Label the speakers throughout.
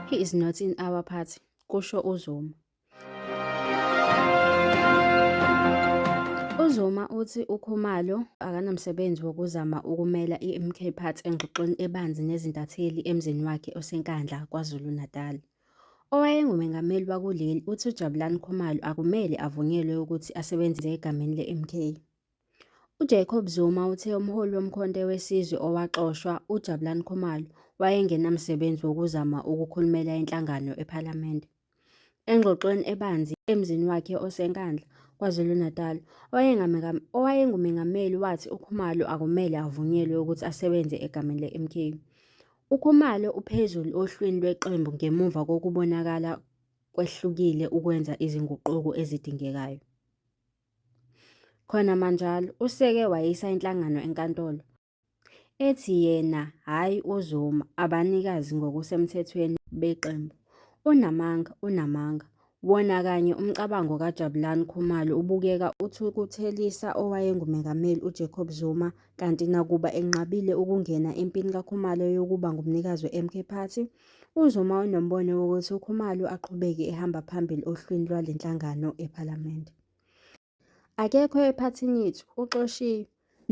Speaker 1: He is not in our party, kusho uZuma. UZuma uthi uKhumalo akanamsebenzi wokuzama ukumela i-MK Party engxoxweni ebanzi nezintatheli emzini wakhe oseNkandla, KwaZulu-Natal. Owayengumengameli wakuleli uthi uJabulani Khumalo akumele avunyelwe ukuthi asebenzise egameni le-MK. UJacob Zuma uthe umholi woMkhonto weSizwe owaxoshwa, uJabulani Khumalo, wayengenamsebenzi wokuzama ukukhulumela inhlangano ePhalamende. Engxoxweni ebanzi emzini wakhe oseNkandla, KwaZulu-Natal, owayengumengameli wathi uKhumalo akumele avunyelwe ukuthi asebenze egameni le-MK. UKhumalo uphezulu ohlwini lweqembu ngemuva kokubonakala kwehlukile ukwenza izinguquko ezidingekayo. Khona manjalo useke wayisa inhlangano enkantolo ethi yena hhayi uZuma abanikazi ngokusemthethweni beqembu. Unamanga, unamanga, Wona kanye umcabango kaJabulani Khumalo ubukeka uthukuthelisa owayenguMengameli uJacob Zuma kanti nakuba enqabile ukungena empini kaKhumalo yokuba ngumnikazi we-MK Party, uZuma unombono wokuthi uKhumalo aqhubeke ehamba phambili ohlwini lwale nhlangano ePhalamende. Akekho ephathini yethu uxoshiwe.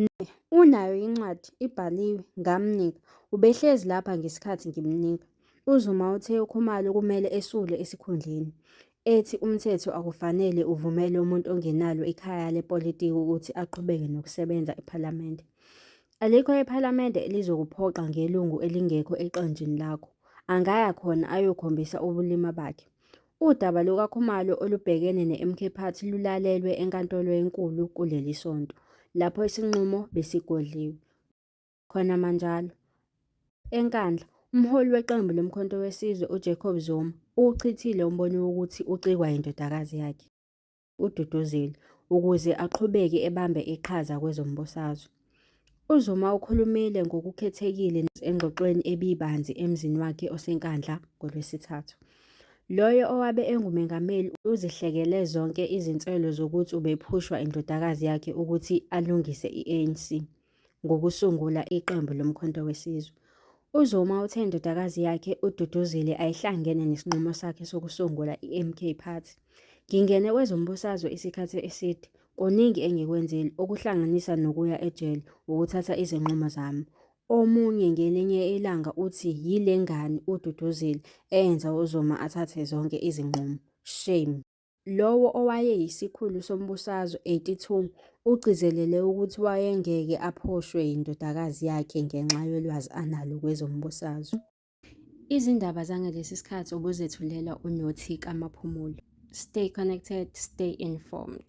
Speaker 1: Ne, unayo incwadi ibhaliwe ngamnika. Ubehlezi lapha ngesikhathi ngimnika. UZuma uthe uKhumalo kumele esule esikhundleni, ethi umthetho akufanele uvumele umuntu ongenalo ikhaya lepolitiki ukuthi aqhubeke nokusebenza ePhalamende. Alikho ePhalamende elizokuphoqa ngelungu elingekho eqenjini lakho. Angaya khona ayokhombisa ubulima bakhe. Udaba lukaKhumalo olubhekene ne-MK Party lulalelwe eNkantolo eNkulu kuleli sonto, lapho isinqumo besigodliwe. Khona manjalo, eNkandla, umholi weqembu loMkhonto weSizwe uJacob Zuma uwuchithile umbono wokuthi ucikwa yindodakazi yakhe. uDuduzile ukuze aqhubeke ebambe iqhaza kwezombusazwe. UZuma ukhulumile ngokukhethekile engxoxweni ebibanzi emzini wakhe oseNkandla ngoLwesithathu. Loyo owabe engumengameli uzihlekele zonke izinswelo zokuthi ubephushwa indodakazi yakhe ukuthi alungise i-ANC. ngokusungula iqembu loMkhonto weSizwe. UZuma uthe indodakazi yakhe uDuduzile ayihlangene nesinqumo sakhe sokusungula iMK Party. Ngingene kwezombusazwe isikhathi eside, kuningi engikwenzile okuhlanganisa nokuya ejele ukuthatha izinqumo zami. Omunye ngelinye ilanga uthi yile ngane uDuduzile eyenza uZuma athathe zonke izinqumo. Shame. Lowo owayeyisikhulu sombusazwe, 82, ugcizelele ukuthi wayengeke aphoshwe yindodakazi yakhe ngenxa yolwazi analo kwezombusazwe. Izindaba zangalesi sikhathi obuzethulelwa uNothi kaMaphumulo. Stay connected, stay informed.